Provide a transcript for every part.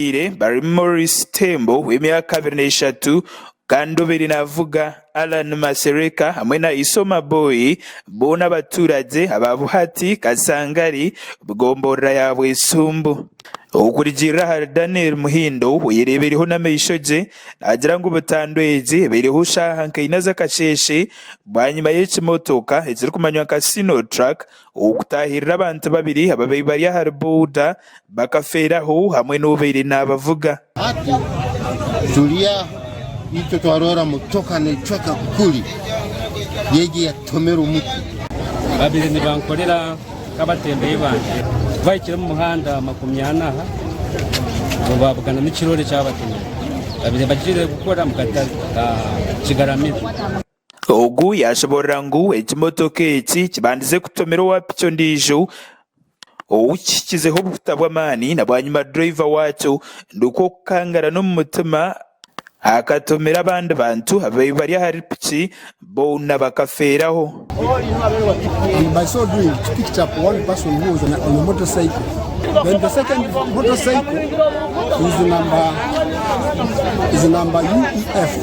Ababaire barimu ni Maurice Tembo w'emyaka abiri n'eshatu kandi obaire naavuga, Allan Masereka hamwe na Isoma Boy boona abaturage aba Buhati, Kasangari, gomborora ya Bwesumbu. Okurugiirira ahari Daniel Muhindo oyereebireho n'amaisho gye naagira ngu butandu egi ebaireho shaaha nka ina z'akasheeshe bwanyima y'ekimotoka ekirikumanywa nka Sino Truck Ow'okutaahirira abantu babiri ababaire bari ahari boda bakafeeraho hamwe n'obaire naabavuga. Hati turi aha, itwe twaroora motoka neecweka kuri y'egi eyatutomera omuti. Baabaire nibankorera nk'abatembeyi bangye. Twahikire omu muhanda makumi ana aha, nabo baabugana n'ekiroore ekyabatomire. Baabaire bagiire kukora omu katare ka Kigaramire. Ogu yaashoboorora ngu ekimotoka eki kibandize kutomera owa piki ondiijo ou kihikizeho obuhuta bw'amaani na bwanyima dureeva waakyo nikwo kukangarana omu mutima akatomera abandi bantu ababaire bari ahari piki boona bakafeeraho.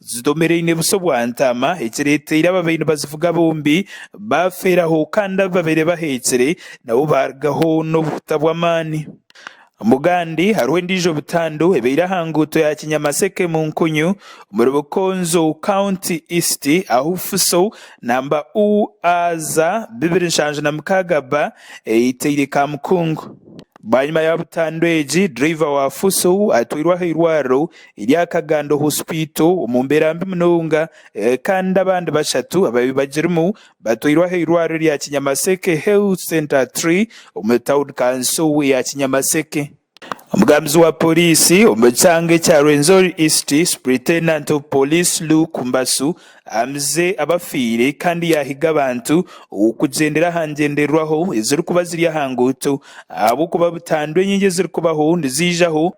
Zidomereine busa obwa ntaama, ekireeteire ababaire nibazivuga bombi baafeeraho kandi ababaire baheekire nabo baarugaho n'obuhuta bw'amaani. Bugandi hariho endiijo butandu ebaire aha nguuto ya Kinyamaseke Munkunyu omuri Bukonzo County East ahu Fuso namba UAZ bibiri nshanju na mukaaga B eitaire Kamukungu. Bwanyima ya butandu egi, driver wa Fuso atwairwe aha irwariro erya Kagando Hospital omu mbeera mbi munonga kandi abandi bashatu ababi bagirimu batwairwe aha eirwariro erya Kinyamaseke Health Centre iii omu tawuni kanso ya Kinyamaseke. Omugambizi wa Poriisi omu kyanga ekya Rwenzori East Superintendent of Police Luke Mbasu amize abafiire kandi yahiga abantu okugyendera aha ngyendererwaho ezirikuba ziri aha nguuto ahabw'okuba butandu enyingi ezirikubaho nizaijaho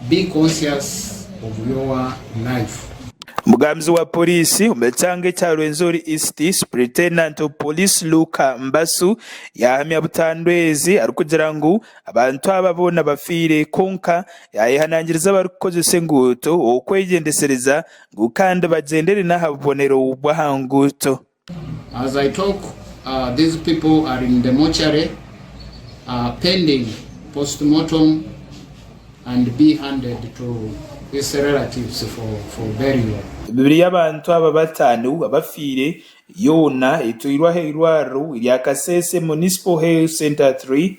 Be conscious of your life. Omugambizi wa Poriisi omu kyanga ekya Rwenzori East, Superintendent of Police Luke Mbasu yahamya butandweezi arikugira ngu abantu aba boona bafiire kwonka yayehanangiriza abarikukozesa enguuto okwegyendesereza ngu kandi bagyenderere n'aha bubonero bw'aha nguuto. As I talk these people are in the mortuary pending postmortem and be handed to its relatives for burial. Emibiri y'abantu aba bataano abafiire yoona etwairwe aha eirwariro erya Kasese Municipal Health Centre three.